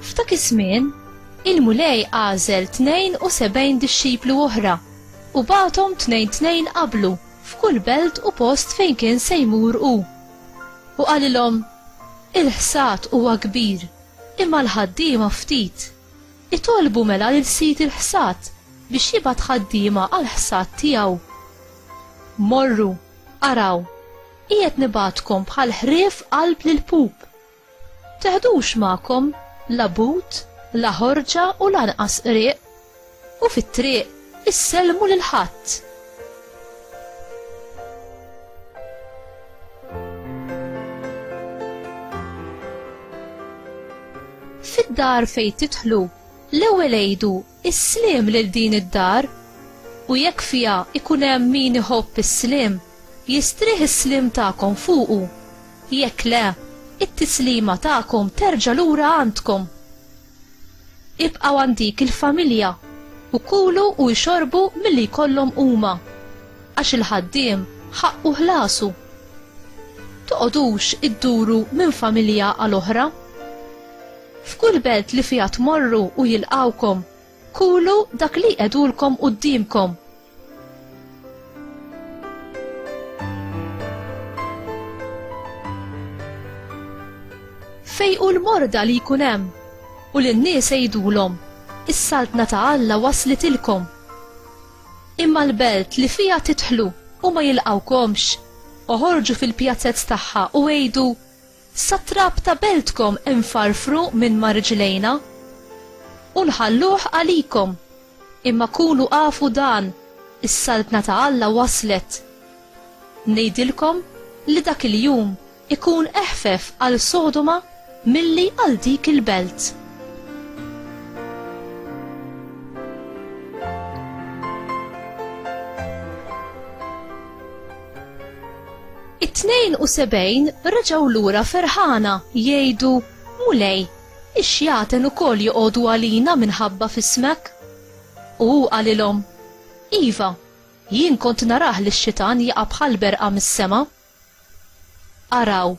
F'dak iż-żmien, il-Mulej għażel 72 dixxiplu oħra u bagħathom tnejn tnejn qablu f'kull belt u post fejn kien se jmur hu. U qalilhom, Il-ħsad huwa kbir, imma l-ħaddiema ftit. Itolbu mela lil sid il-ħsad biex jibgħat ħaddiema għall-ħsad tiegħu. Morru, araw, qiegħed nibgħatkom bħal ħrief qalb l-ilpup. Teħdux magħkom la but, la ħorġa u lanqas qrieq. u fit-triq issellmu lil ħadd. Fid-dar fejn tidħlu, l-ewwel għidu is-sliem lil din id-dar u jekk fiha ikun hemm min iħobb is-sliem, jistrieħ is-sliem tagħkom fuqu. Jekk le, it-tislima tagħkom terġa' lura għandkom. Ibqgħu għand dik il-familja u kulu u jxorbu milli jkollhom huma, għax il-ħaddiem ħaqqu ħlasu. Toqgħodux idduru minn familja għal oħra. F'kull belt li fiha tmorru u jilqgħukom, kulu dak li jqegħdulkom quddiemkom. Fejqu l-morda li jkun hemm u lin-nies għidulhom, is-saltna ta' Alla waslitilkom. Imma l-belt li fiha tidħlu u ma jilqgħukomx, oħorġu fil-pjazez tagħha u għidu, Sat-trab ta' beltkom infarfru minn ma' riġlejna, u nħalluh għalikom, imma kunu afu dan, is-Saltna ta' Alla waslet. Ngħidilkom li dak il-jum ikun eħfef għal Sodoma milli għal dik il-belt. It-72 reġgħu lura ferħana jgħidu, Mulej, ix-xjaten ukoll joqogħdu għalina minħabba f'ismek. U hu qalilhom, Iva, jien kont narah lix-xitan jaqa' bħall-berqa mis-sema. Araw,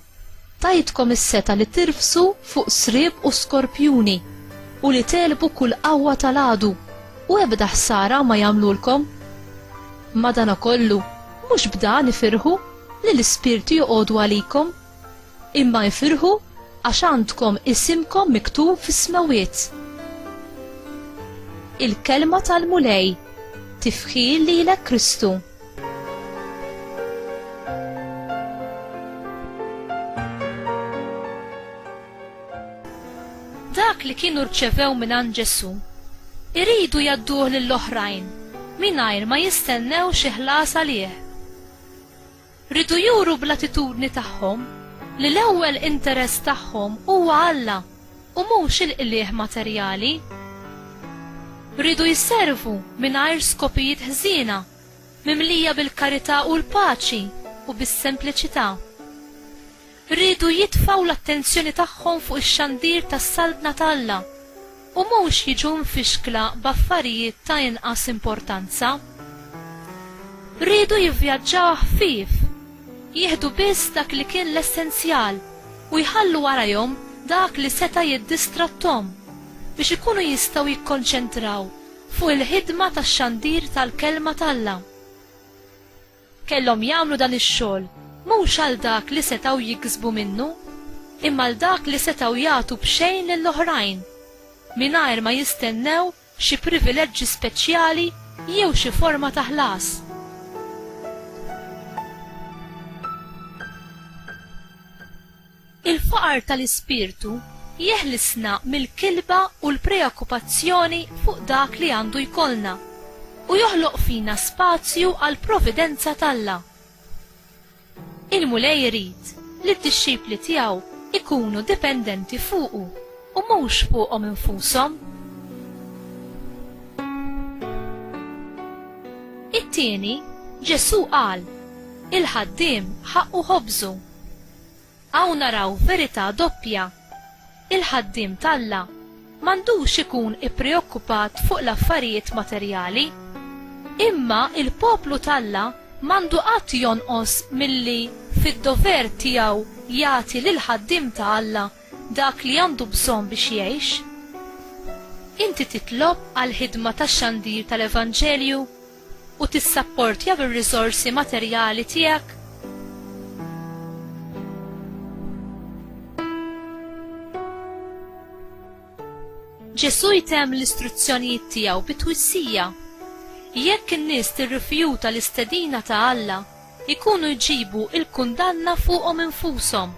tajtkom is-setgħa li tirfsu fuq sriep u skorpjuni, u li tegħlbu kull qawwa tal-għadu, u ebda ħsara ma jagħmlulkom. Madanakollu, mhux b'dan ifirħu li l-ispirti joqogħdu għalikom, imma ifirħu għax għandkom isimkom miktub fis-smewwiet. Il-kelma tal-Mulej tifħil lilek Kristu. Dak li kienu rċevew mingħand Ġesù, iridu jgħadduh lill-oħrajn mingħajr ma jistennew xi ħlas għalih. Riedu juru bl-attitudni tagħhom li l-ewwel interess tagħhom huwa Alla. u mhux il-qligħ materjali. Riedu jservu mingħajr skopijiet ħżiena, mimlija bil-karità u l-paċi u bis-sempliċità. Riedu jitfgħu l-attenzjoni tagħhom fuq ix-xandir tas-Saltna ta' Alla u mhux jiġu mfixkla b'affarijiet ta' inqas importanza. Riedu jivvjaġġaw ħfief, jieħdu biss dak li kien l-essenzjal, u jħallu warajhom dak li seta' jiddistratthom biex ikunu jistgħu jikkonċentraw fuq il-ħidma ta' xandir tal-Kelma t'Alla. Kellhom jagħmlu dan ix-xogħol mhux għal dak li setgħu jiksbu minnu, imma għal dak li setgħu jagħtu b'xejn lill-oħrajn, mingħajr ma jistennew xi privileġġi speċjali jew xi forma ta' ħlas. Il-faqar tal-ispirtu jeħlisna mill-kilba u l-preokkupazzjoni fuq dak li għandu jkollna u joħloq fina spazju għall-providenza t'Alla. Il-Mulej irid li d-dixxipli tiegħu jkunu dipendenti fuqu u mhux fuqhom infushom. It-tieni, Ġesù qal, Il-ħaddiem ħaqqu ħobżu. Hawn naraw verità doppja. Il-ħaddiem t'Alla m'għandux ikun ippreokkupat fuq l-affarijiet materjali. Imma l-poplu t'Alla m'għandu qatt jonqos milli fid-dover tiegħu jagħti lill-ħaddiem ta' Alla dak li għandu bżonn biex jgħix. Inti titlob għall-ħidma tax-xandir tal-evanġelju? u tissapportja bir-riżorsi materjali tiegħek? Ġesù jtemm l-istruzzjonijiet tiegħu bi twissija. Jekk in-nies tirrifjuta l-istedina ta' Alla, ikunu jġibu l-kundanna fuqhom infushom.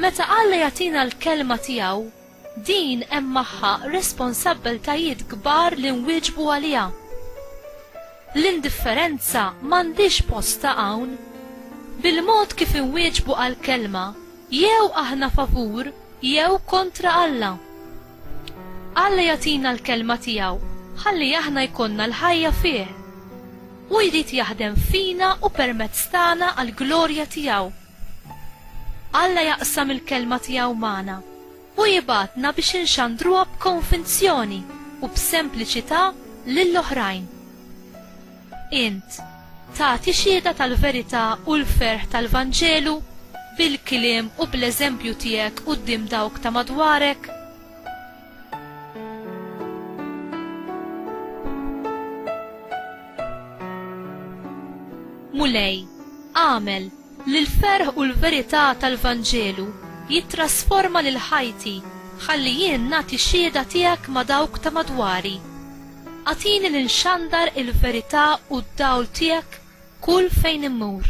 Meta Alla jagħtina l-kelma tiegħu, Din hemm magħha responsabbiltajiet kbar li nwieġbu għaliha. L-indifferenza m'għandhiex postha hawn. Bil-mod kif inwieġbu għall-Kelma, jew aħna favur jew kontra Alla. Alla jagħtina l-Kelma tiegħu ħalli aħna jkollna l-ħajja fih. Hu jrid jaħdem fina u permezz tagħna għall-glorja tiegħu. Alla jaqsam il-Kelma tiegħu magħna u jibgħatna biex inxandruha b'konvinzjoni u b'sempliċità lil oħrajn. Int tagħti xhieda tal-verità u l-ferħ tal-Vanġelu bil-kliem u bl-eżempju tiegħek quddiem dawk ta' madwarek? Mulej, agħmel li l-ferħ u l-verità tal-Vanġelu jittrasforma lil ħajti ħalli jien nagħti xhieda tiegħek ma' dawk ta' madwari. Agħtini li nxandar il-verità u d-dawl tiegħek kull fejn immur.